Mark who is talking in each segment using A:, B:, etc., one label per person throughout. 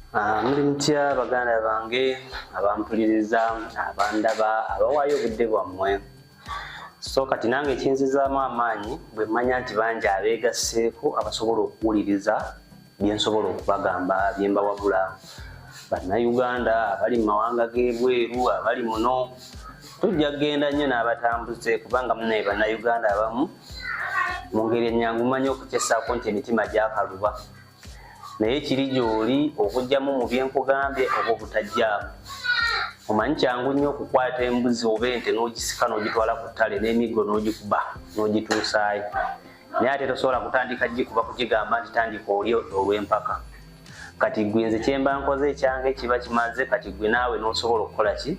A: Ah, muli mutya baganda bange abampuliriza abandaba abawaayo obudde bwammwe so kati nange ekinzizaamu amaanyi bwe mmanya nti bangi abeegasseeko abasobola okuwuliriza bye nsobola okubagamba bye mbawabula bannayuganda abali mu mawanga g'ebweru abali muno tujja kugenda nnyo n'abatambuze kubanga munaye bannayuganda abamu mu ngeri ennyangu mmanyi okukyesaako nti emitima gyakaluba naye kiri gy'oli okugyamu mu byenkugambye oba obutajjaamu omanyi kyangu nnyo okukwata embuzi oba ente n'ogisika n'ogitwala ku ttale n'emiggo n'ogikuba n'ogituusaayo naye ate tosobola kutandika gikuba kugigamba nti tandika oli olw'empaka kati gwe nze kyemba nkoze ekyange kiba kimaze kati gwe naawe n'osobola okukola ki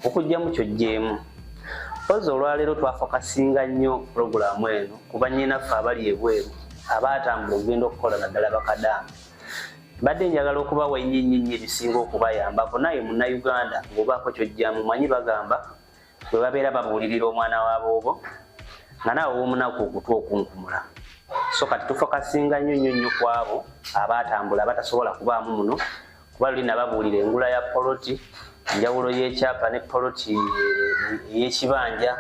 A: okugyamu kyojjeemu mpozi olwaleero twafokasinga nnyo pulogulaamu eno kuba nyinaffe abali ebweru abaatambula okugenda okukola naddala bakadaama mbadde njagala okubawa ennyinnyinnya ebisinga okubayambako naye munnayuganda ng'obaako kyojjamu manyi bagamba bwe babeera babuulirira omwana wa boobo nga naawe womunaku okutwa okunkumula so kati tufokasinga nnyo nnyo nnyo ku abo abaatambula abatasobola kubaamu muno kuba luli nababuulira engula ya poloti enjawulo y'ekyapa ne poloti ey'ekibanja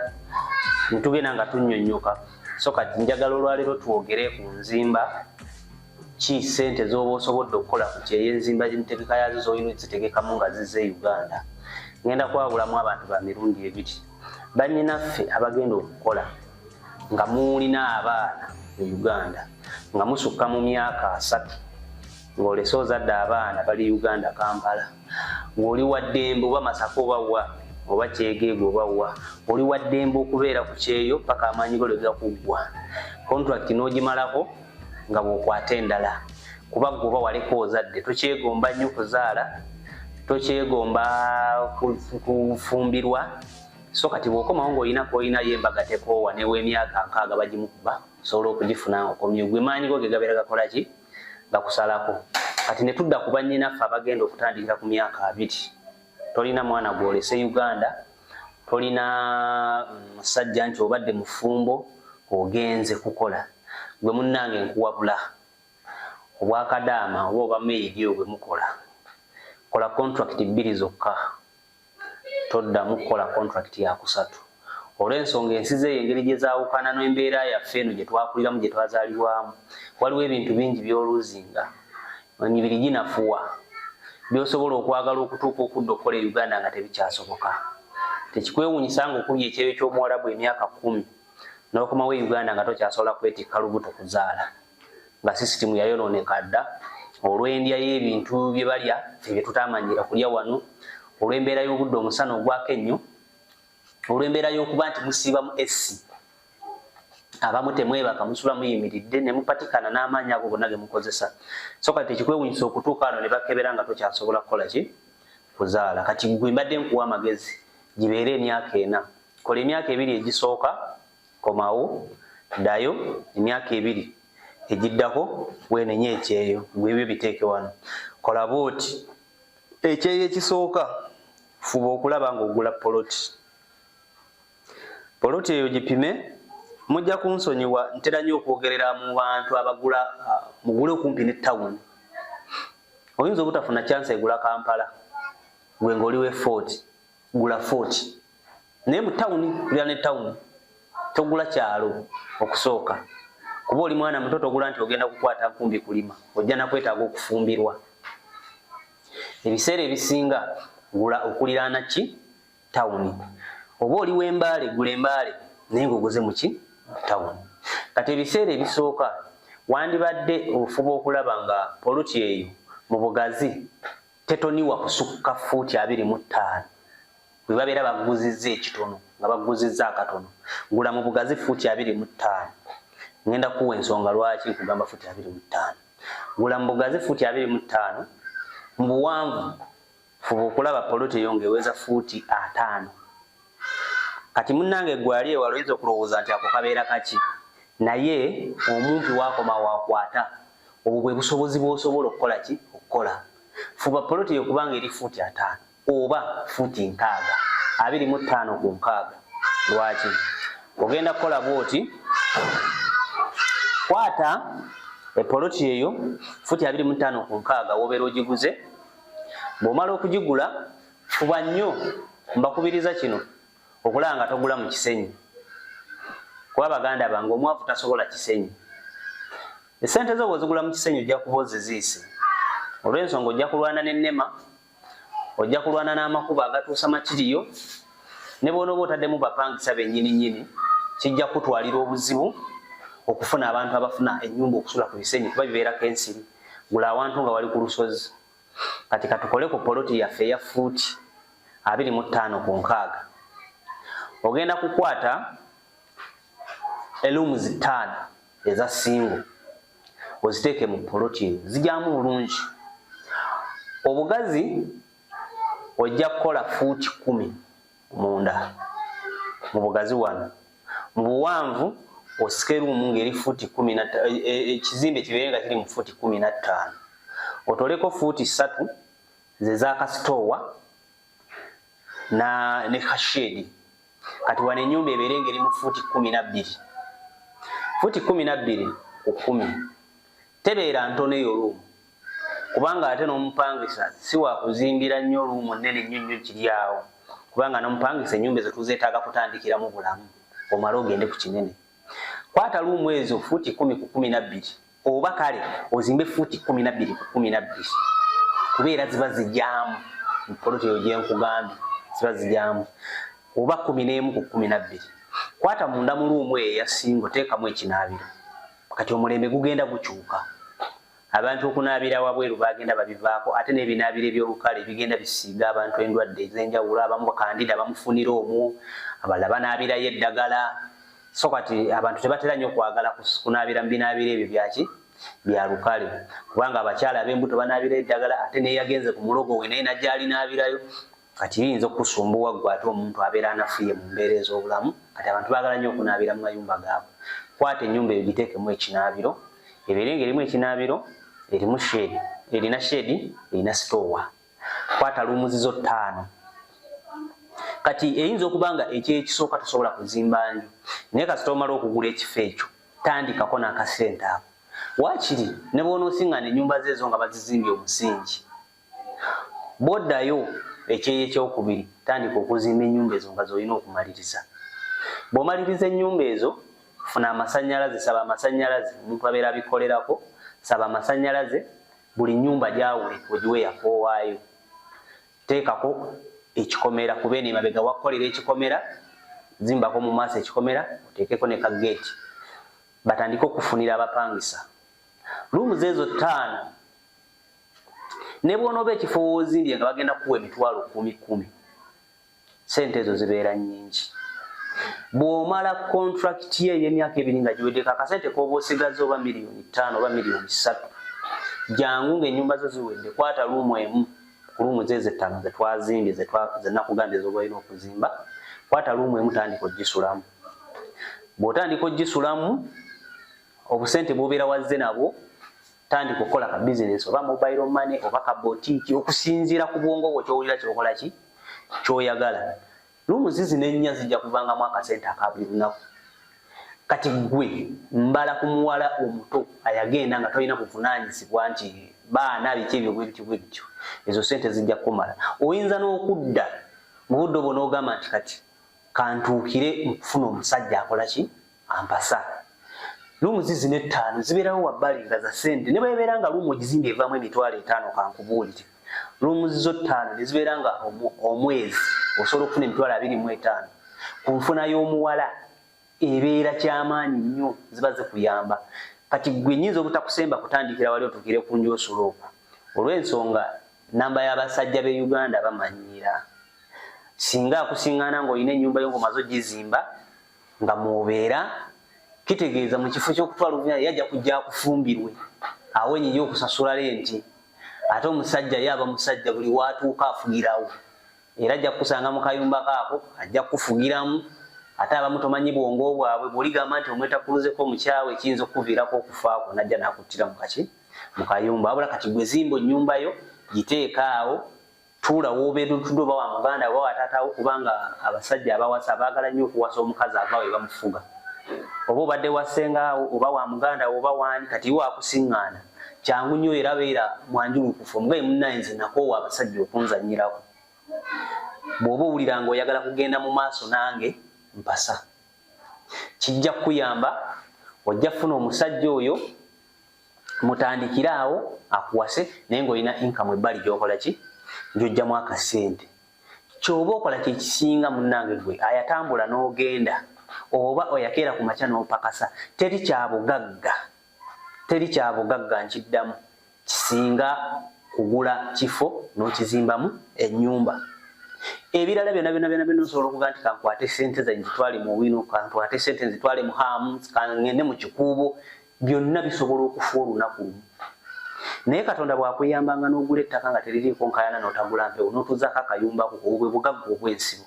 A: netugenda nga tunnyonnyoka so kati njagala olwaleero twogere ku nzimba ki sente z'oba osobodde okukola ku kyeyo enzimba entegeka yaazo zolina ezitegekamu nga zize e uganda ngenda kwawulamu abantu ba mirundi ebiri bannyinaffe abagenda okukola nga muwulina abaana mu uganda nga musukka mu myaka asatu ng'olese ozadde abaana bali uganda kampala ng'oli waddembe oba masaka oba wa oba kyegeega oba wa oli waddembe okubeera ku kyeyo paka amaanyi go lwega kuggwa kontrakiti n'ogimalako nga bw'okwata endala kuba gwe oba waleka ozadde tokyegomba nnyo kuzaala tokyegomba kufumbirwa so kati bw'okomawo ng'olina koolinayo embaga tekoowa new'emyaka nkaaga bagimukuba osobola okugifuna okomye gwe maanyi go ge gabeera gakola ki nga kusalako kati ne tudda ku bannyinaffe abagenda okutandikira ku myaka abiri tolina mwana gwolese uganda tolina mm, musajja nti obadde mufumbo ogenze kukola gwe munnange nkuwabula obwakadaama oba obameedi obwe mukola kola contract bbiri zokka toddamu kukola kontulakiti ya kusatu olw'ensonga ensi zeeyo engeri gye zaawukana n'embeera yaffe eno gye twakuliramu gye twazaalibwamu waliwo ebintu bingi by'oluuzinga emibiri ginafuwa by'osobola okwagala okutuuka okudda okukola e uganda nga tebikyasoboka tekikwewuunyisa nga okubya ekyeyo ky'omuwalabu emyaka kkumi n'okomawo e uganda nga tokyasobola kwetikka lubuto kuzaala nga sisitimu yayonooneka dda olw'endya y'ebintu bye balya ebyo tutaamanyira kulya wano olw'embeera y'obudde omusana ogwako ennyo olw'embeera y'okuba nti musiiba mu essi abamu temwebaka musula muyimiridde ne mupatikana n'amaanyi ago gonna ge mukozesa so kati tekikwewunyisa okutuuka wano ne bakebera nga tokyasobola kukola ki kuzaala kati gwe mbadde nkuwa amagezi gibeere emyaka ena kola emyaka ebiri egisooka komawo ddayo emyaka ebiri egiddako weenenye ekyeyo gwe ebyo biteeke wano kola bwoti ekyeyo ekisooka fuba okulaba ng'ogula poloti poloti eyo gipime mujja kunsonyiwa ntera nnyo okwogerera mu bantu abagula ah, mugule okumpi ne tawuni oyinza obutafuna kyansi egula kampala gwe ng'oli we fort gula fort naye mu tawuni kulira ne tawuni togula kyalo okusooka kuba oli mwana muto togula nti ogenda kukwata nkumbi kulima ojja nakwetaaga okufumbirwa ebiseera ebisinga gula okuliraana ki tawuni oba oli wembaale gula embaale naye ngaoguze muki tawuni kati ebiseera ebisooka wandibadde ofuba okulaba nga poluti eyo mu bugazi tetoniwa kusukka fuuti abiri mu ttaano bwe babeera baguzizza ekitono nga baguzizza akatono gula mu bugazi fuuti abiri mu ttaano ŋenda kuwa ensonga lwaki nkugamba fuuti abiri mu ttaano gula mu bugazi fuuti abiri mu ttaano mu buwanvu fuba okulaba poloti eyo ngaeweza fuuti ataano kati munnange gwali ewala oyinza okulowooza nti ako kabeera kaki naye omumpi wakoma wakwata obwo bwe busobozi bw'osobola okukola ki okukola fuba poloti eyo kubanga eri fuuti ataano oba fuuti nkaaga abiri mu ttaano ku nkaaga lwaki ogenda kukola bwoti kwata epoloti eyo futi abiri mu ttaano ku nkaaga wobeera ogiguze bw'omala okugigula fuba nnyo mbakubiriza kino okulaba nga togula mu kisenyi kuba baganda bange omwavu tasobola kisenyi esente zo bwezigula mu kisenyi ojja kuba oziziise olw'ensonga ojja kulwana n'ennema ojja kulwana n'amakubo agatuusa makiriyo ne bwona oba otaddemu bapangisa bennyini nnyini kijja kutwalira obuzibu okufuna abantu abafuna ennyumba okusula ku bisenyi kuba bibeerako ensiri gula awantu nga wali ku lusozi kati katukole ku poloti yaffe eya fuuti abiri mu ttaano ku nkaaga ogenda kukwata eluumu zittaano eza singo oziteeke mu poloti eyo zijyamu bulungi obugazi ojja kukola fuuti kumi munda mu bugazi wano mu buwanvu osike ruumu ngeri fuuti kumi na e, e, ekizimbe kibeere nga kiri mu fuuti kumi na ttaano otoleko fuuti ssatu ze za kasitoowa na ne kashedi kati wano enyumba ebeere ngeri mu fuuti kumi na bbiri fuuti kumi na bbiri ku kumi tebeera ntono eyo ruumu kubanga ate n'omupangisa si wakuzimbira nnyo oluumu nnene nnyo nnyo kiri awo kubanga n'omupangisa ennyumba ezo tuzeetaaga kutandikiramu bulamu omale ogende ku kinene kwata luumu ezo fuuti kumi ku kumi nabbiri oba kale ozimbe fuuti kumi nabbiri ku kumi nabbiri kubeera ziba zijyamu poloti eyo gyenkugambye ziba zijyamu oba kumi n'emu ku kumi nabbiri kwata munda mu luumu eyo eyasinga oteekamu ekinaabiro kati omulembe gugenda gukyuka abantu okunaabira wabweru bagenda babivaako ate n'ebinaabiro ebyolukale bigenda bisiiga abantu endwadde ezenjawulo abamu bakandida bamufunira omwo abala banaabirayo eddagala so kati abantu tebatera nnyo okwagala kunaabira mubinaabiro ebyo byaki bya lukale kubanga abakyala ab'embuto banaabirayo eddagala ate neyagenze ku mulogo we naye najja alinaabirayo kati biyinza okusumbuwa gwe ate omuntu abeera anafuye mu mbeera ez'obulamu kati abantu baagala nnyo okunaabira mu mayumba gaabwe kwata ennyumba eyo giteekemu ekinaabiro ebeere nga erimu ekinaabiro erimu sheedi erina sheedi erina sitoowa kwata luumuzizo ttaano kati eyinza okuba nga ekyekisooka tosobola kuzimba nju naye kasita omala okugula ekifo ekyo tandikako n'akasente ako waakiri ne bw'onoosiŋŋana ennyumba zeezo nga bazizimbye omusingi bwoddayo ekyeyo ekyokubiri tandika okuzimba enyumba ezo nga zolina okumaliriza bwomaliriza enyumba ezo funa amasanyalaze saba amasanyalaze omuntu abeera abikolerako saba amasanyalaze buli nyumba gyawule ogiwe yakowaayo teekako ekikomera kuba eno emabega wakukolera ekikomera zimbako mu maaso ekikomera oteekeko ne ka geeti batandike okufunira abapangisa luumu zeezo ttaano ne bw'onooba ekifo woozimbye nga bagenda kuwa emitwalo kumi kumi sente ezo zibeera nnyingi bw'omala kontrakiti ye ey'emyaka ebiri nga giweddeko akasente k'oba osigaza oba miliyoni ttaano oba miliyoni ssatu jangu ng'ennyumba zo ziwedde kwata luumu emu ku luumu ze zettaano ze twazimbye ze nakugambye z'oba olina okuzimba kwata luumu emu tandika ogisulamu bw'otandika ogisulamu obusente bw'obeera wazze nabwo tandika okukola ka bizinesi oba mobile money oba ka botiiki okusinziira ku bwongo bwo kyowulira kyokola ki kyoyagala lumu zizi nennya zijja kuvangamu akasente aka buli lunaku kati gwe mbala ku muwala omuto ayagenda nga tolina buvunaanyizibwa nti baana biki ebyo bwebityo bwebityo ezo sente zijja kukumala oyinza n'okudda mu budde obwo n'ogamba nti kati kantuukire mukufuna omusajja akola ki ampasa lumu zizina ettaano zibeerawo wabbali nga za sente ne bwebeera nga lumu ogizimba evaamu emitwalo etaano kankubuulire lumu zizo ttaano ne zibeera nga omwezi osobola okufuna emitwalo abiri mu etaano ku nfuna y'omuwala ebeera kyamaanyi nnyo ziba zikuyamba kati gwe nyinza obutakusemba kutandikira wali otukire ku njosola oku olw'ensonga namba y'abasajja b'e uganda bamanyiira singa akusingana ng'olina ennyumba yo ngomaze ogizimba nga mwobeera kitegeeza mu kifo ky'okutwala obuvunaanyizibwa yajja kujja akufumbirwe awo enyinja okusasula lenti ate omusajja ye aba musajja buli waatuuka afugirawo era ajja kukusanga mu kayumba kaako ajja kukufugiramu ate abamu tomanyi bwongo bwabwe bwoligamba nti omwetakuluzeko omukyawe ekiyinza okukuviirako okufa kwo najja nakuttira mukaki mu kayumba wabula kati gwezimba onyumba yo giteekaawo tuula wobeedutuddwa oba wa muganda oba wataatawo kubanga abasajja abawasa baagala nnyo okuwasa omukazi ava we bamufuga oba obadde wasenga oba wa muganda oba waani kati iwe akusiŋŋaana kyangu nnyo era beera mwanjulukufu omugaye munnaye nze nakoowa abasajja okunzannyirako bw'oba owulira nga oyagala kugenda mu maaso nange mpasa kijja kukuyamba ojja kufuna omusajja oyo mutandikire awo akuwase naye ngaolina inkamu ebbali gyokola ki gyojjamu akasente kyoba okola kyekisinga munange gwe ayatambula n'ogenda oba oyakeera ku makya n'opakasa teri kyabugagga teri kyabugagga nkiddamu kisinga kugula kifo n'okizimbamu ennyumba ebirala byona byona byona byona osobola okuga nti kankwate sente zange zitwale mu wino kankwate sente nzitwale mu haamu kangende mu kikuubo byonna bisobola okufa olunaku lumu naye katonda bwakuyambanga n'ogula ettaka nga teririiko nkayana n'otagula mpewo n'otuzaako akayumbako obwe bugagga obw'ensibo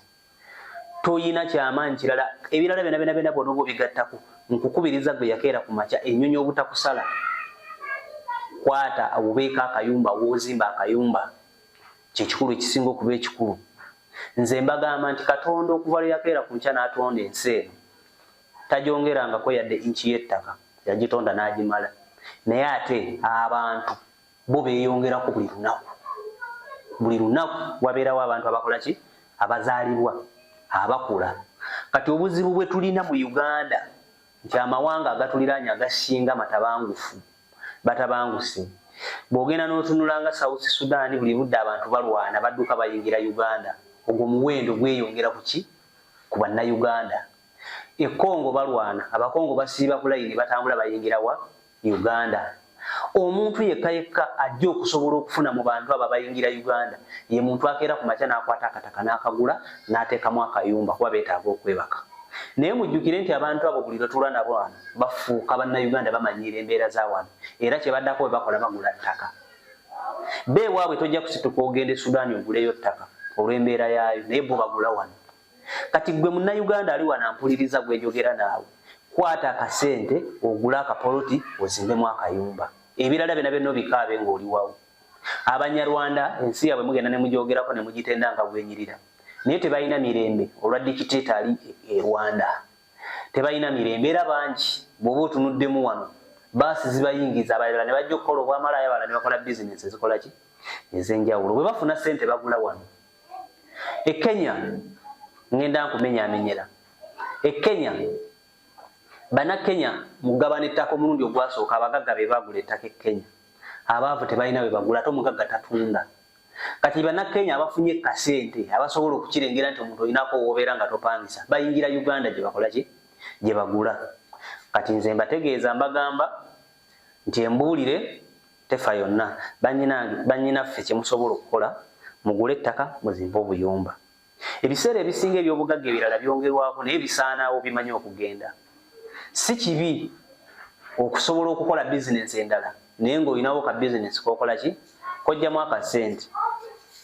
A: toyina kyamaanyi kirala ebirala byona byona byona bwona oba obigattako nkukubiriza gwe yakeera ku makya ennyonyi obutakusala kwata awubeeko akayumba woozimba akayumba kyekikulu ekisinga okuba ekikulu nze mbagamba nti katonda okuva lwe yakeera ku nkya n'atonda ensi eno tajongerangako yadde inki y'ettaka yagitonda n'agimala naye ate abantu bo beeyongerako buli lunaku buli lunaku wabeerawo abantu abakola ki abazaalibwa abakula kati obuzibu bwe tulina mu uganda nti amawanga agatuliraanya agasinga matabangufu batabanguse bw'ogenda n'otunula nga south sudan buli budde abantu balwana badduka bayingira uganda ogwo muwendo gweyongera ku ki ku bannayuganda e Congo balwana abakongo basiiba ku layini batambula bayingira wa Uganda omuntu yekka yekka ajja okusobola okufuna mu bantu abo abayingira Uganda ye muntu akeera ku makya n'akwata akataka n'akagula n'ateekamu akayumba kuba beetaaga okwebaka naye mujjukire nti abantu abo buli lwetula nabo wano bafuuka bannayuganda bamanyiira embeera za wano era kye baddako bwe bakola bagula ttaka beewaabwe tojja kusituka ogenda e sudaani oguleyo ttaka olw'embeera yaayo naye bo bagula wano kati gwe munnayuganda ali wano ampuliriza gwenjogera naawe kwata akasente ogule akapoloti ozimbemu akayumba ebirala byona byonna obikaabe ng'oliwawo abanyarwanda ensi yabwe mugenda ne mugyogerako ne mugitenda nga bwenyirira naye tebalina mirembe olwa dikiteeta ali e rwanda tebalina mirembe era bangi bwoba otunuddemu wano baasi zibayingiza abalala ne bajja okukola obwamalaaya abalala ne bakola bizinensi ezikolaki ez'enjawulo bwe bafuna ssente bagula wano e kenya ngenda nkumenyamenyera e kenya bana kenya mugabana ettaka omulundi ogwasooka abagagga be bagula ettaka e kenya abaavu tebalina bwe bagula ate omugagga tatunda kati bana kenya abafunye kasente abasobola okukirengera nti omuntu olinako wobeera nga topangisa bayingira uganda gye bakola ki gye bagula kati nze mbategeeza mbagamba nti embuulire tefa yonna banyinange banyinaffe kyemusobola okukola mugule ettaka muzimbe obuyumba ebiseera ebisinga ebyobugagga ebirala byongerwako naye bisaanawo bimanyi okugenda si kibi okusobola okukola bizinensi endala naye ngaolinawo ka bizinensi kokola ki kojjamu akasente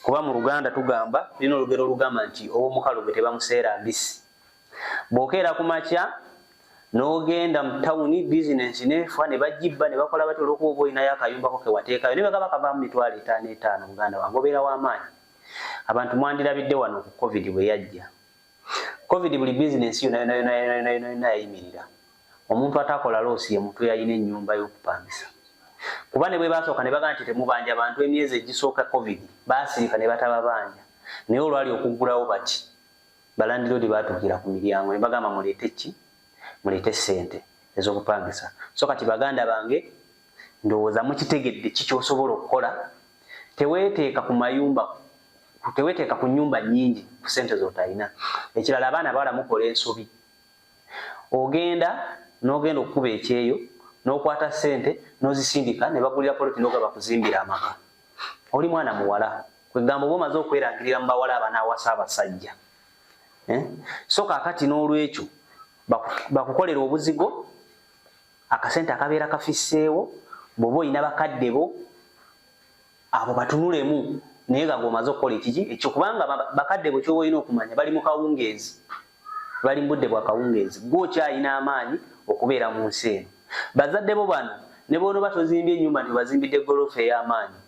A: kuba mu luganda tugamba lina olugero olugamba nti owomukalu gwe tebamuseera mbisi bwokeera ku makya nogenda mu tawuni bizinensi nefa ne bagibba ne bakola batya olwokuba oba olinayo akayumbako kewateekayo ne bagaba kavaamu mitwalo etaano etaano muganda wange obeera w'amaanyi abantu mwandirabidde wano ku covid bwe yajja covid buli bizinensi yonayonayonayonayonayona yayimirira omuntu atakola loosi ye muntu yalina ennyumba y'okupangisa kuba ne bwe basooka ne bagamba nti temubanja bantu emyezi egisooka covid baasirika ne batababanja naye olwali okuggulawo bati balandiroodi baatuukira ku miryango ne bagamba muleete ki muleete ssente ez'okupangisa so kati baganda bange ndowooza mukitegedde ki kyosobola okukola teweeteeka ku mayumba teweeteeka ku nnyumba nnyingi ku ssente z'otalina ekirala abaana bawala mukola ensobi ogenda n'ogenda okukuba ekyeyo n'okwata ssente n'ozisindika ne bagulira poloti n'ogaba kuzimbira amaka oli mwana muwala kwegamba oba omaze okwerangirira mu bawala abanaawasa abasajja eh? so kakati n'olwekyo bakukolera obuzigo akasente akabeera kafisseewo bwoba olina bakadde bo abo batunulemu naye nga gwomaze okukola ekiki ekyo kubanga bakadde bo kyoba olina okumanya bali mu kawungeezi bali mu budde bwa kawungeezi gwokyalina amaanyi okubeera mu nsi eno bazadde bo bano ne bwonoba tozimbye enyumba nti obazimbidde golofa ey'amaanyi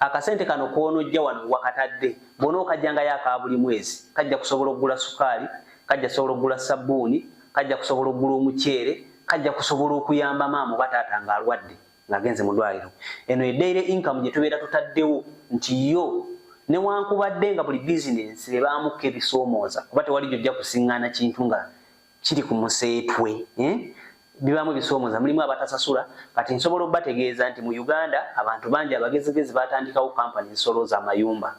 A: akasente kano kwonojja wano wakatadde bona okajjangayo aka buli mwezi kajja kusobola okugula sukaali kajja kusobola okugula sabbuuni kajja kusobola okugula omuceere kajja kusobola okuyamba maama oba taata ng'alwadde ng'agenze mu ddwaliro eno edaire inkamu gye tubeera tutaddewo nti yo newankubadde nga buli bizinensi ebaamuko ebisoomooza kuba tewali gyojja kusiŋŋaana kintu nga kiri ku museetwe eh? bibaamu ebisoomoza mulimu abatasasula kati nsobola obategeeza nti mu uganda abantu bangi abagezigezi batandikawo kampani zisolooza amayumba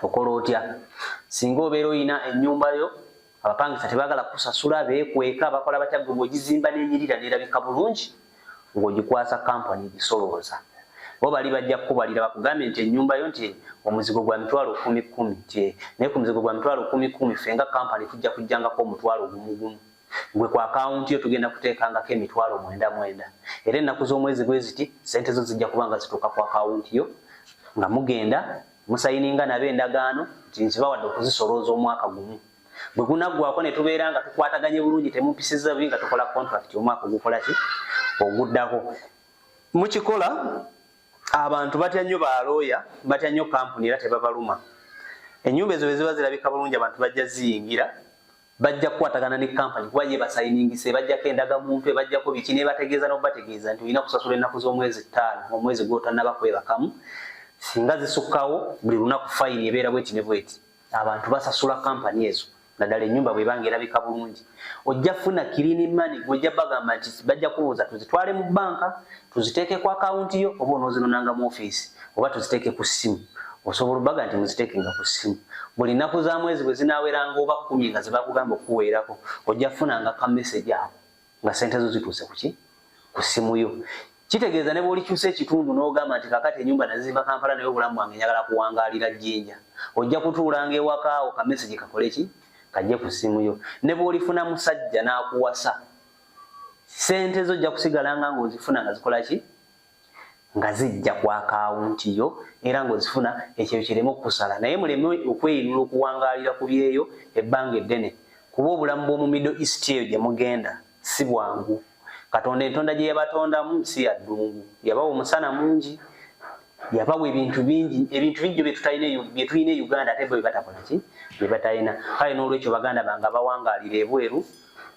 A: okola otya singa obeera olina enyumba yo abapangisa tebagala kusasula bekweka bakola batya gwe bwegizimba nenyirira nerabika bulungi ng'ogikwasa kampani egisolooza bo bali bajja kukubalira bakugambye nti ennyumba yo nti omuzigo gwa mitwalo kumi kumi nti naye ku muzigo gwa mitwalo kumi kumi ffe nga kampani tujja kujjangako omutwalo gumu gumu gwe ku akawunti yo tugenda kuteekangako emitwalo mwenda mwenda era ennaku z'omwezi bwe ziti ssente zo zijja kuba nga zituuka ku akawunti yo nga mugenda musayininga nabo endagaano nti nzibawadde okuzisolooza omwaka gumu bwe gunaggwako ne tubeera nga tukwataganye bulungi temumpisizza bubi nga tukola contract omwaka ogukola ki oguddako mukikola abantu batya nnyo balooya batya nnyo kampuni era tebabaluma enyumba ezo bweziba zirabika bulungi abantu bajja ziyingira bajja kukwatagana ne kampani kuba ye basayiningise bajjako endaga muntu ebajjako biki nebategeeza nokubategeeza nti olina kusasula ennaku z'omwezi ttaano omwezi gwotanaba kwebakamu singa zisukkawo buli lunaku fayini ebeera bweti ne bweti abantu basasula kampani ezo naddala enyumba bwebanga erabika bulungi ojja funa kirini mani gwojja bagamba nti bajja kubuuza tuzitwale mu banka tuziteeke ku akawunti yo oba onoozinonanga mu ofiisi oba tuziteeke ku ssimu osobola obaga nti muziteekenga ku ssimu buli nnaku za mwezi bwe zinaaweranga oba kkumi nga ze bakugamba okukuweerako ojja funanga ka mesegi awo nga sente zo zituuse kuki ku simu yo kitegeeza ne bwolikyusa ekitundu n'ogamba nti kakati enyumba nazizimba kampala naye obulamu bwange njagala kuwangaalira jjinja ojja kutuulanga ewakaawo ka message kakole ki kajje ku simu yo ne bwolifuna musajja n'akuwasa sente zo ojja kusigalanga ng'ozifuna nga zikola ki nga zijja ku akaawunti yo era ng'ozifuna ekyeyo kireme okukusala naye muleme okweyinula okuwangaalira ku byeyo ebbanga eddene kuba obulamu bw'omu middle east eyo gye mugenda si bwangu katonda entonda gye yabatondamu si ya ddungu yabawa omusana mungi yabawa ebintu bingi ebintu bingi byo byetutalina bye tulina e uganda ate bo bye batakola ki bye batalina kale n'olwekyo baganda bange abawangaalira ebweru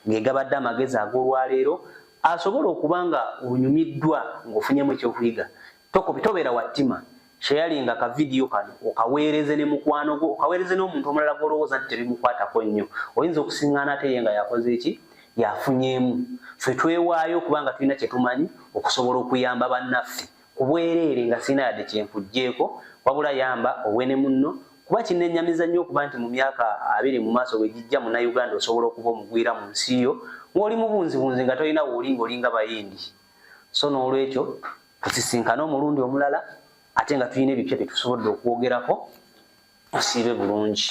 A: ng'egabadde amagezi ag'olwaleero asobola okuba nga onyumiddwa ng'ofunyemu ekyokuyiga tobeera wa ttima shayalinga ka vidiyo kano okaweereze ne mukwano gwo okaweereze n'omuntu omulala gw'olowooza nti tebimukwatako nnyo oyinza okusiŋŋaana ate ye nga yakoze eki yafunyeemu ffe twewaayo okuba nga tulina kye tumanyi okusobola okuyamba bannaffe ku bwereere nga sirina yadde kye nkuggyeko wabula yamba owe ne munno kuba kinennyamiza nnyo okuba nti mu myaka abiri mu maaso bwe gijja munnayuganda osobola okuba omugwira mu nsi yo ng'oli mubunzibunzi nga tolina wooli ng'olinga bayindi so n'olwekyo tusisinkane omulundi omulala ate nga tulina ebipya bye tusobodde okwogerako osiibe bulungi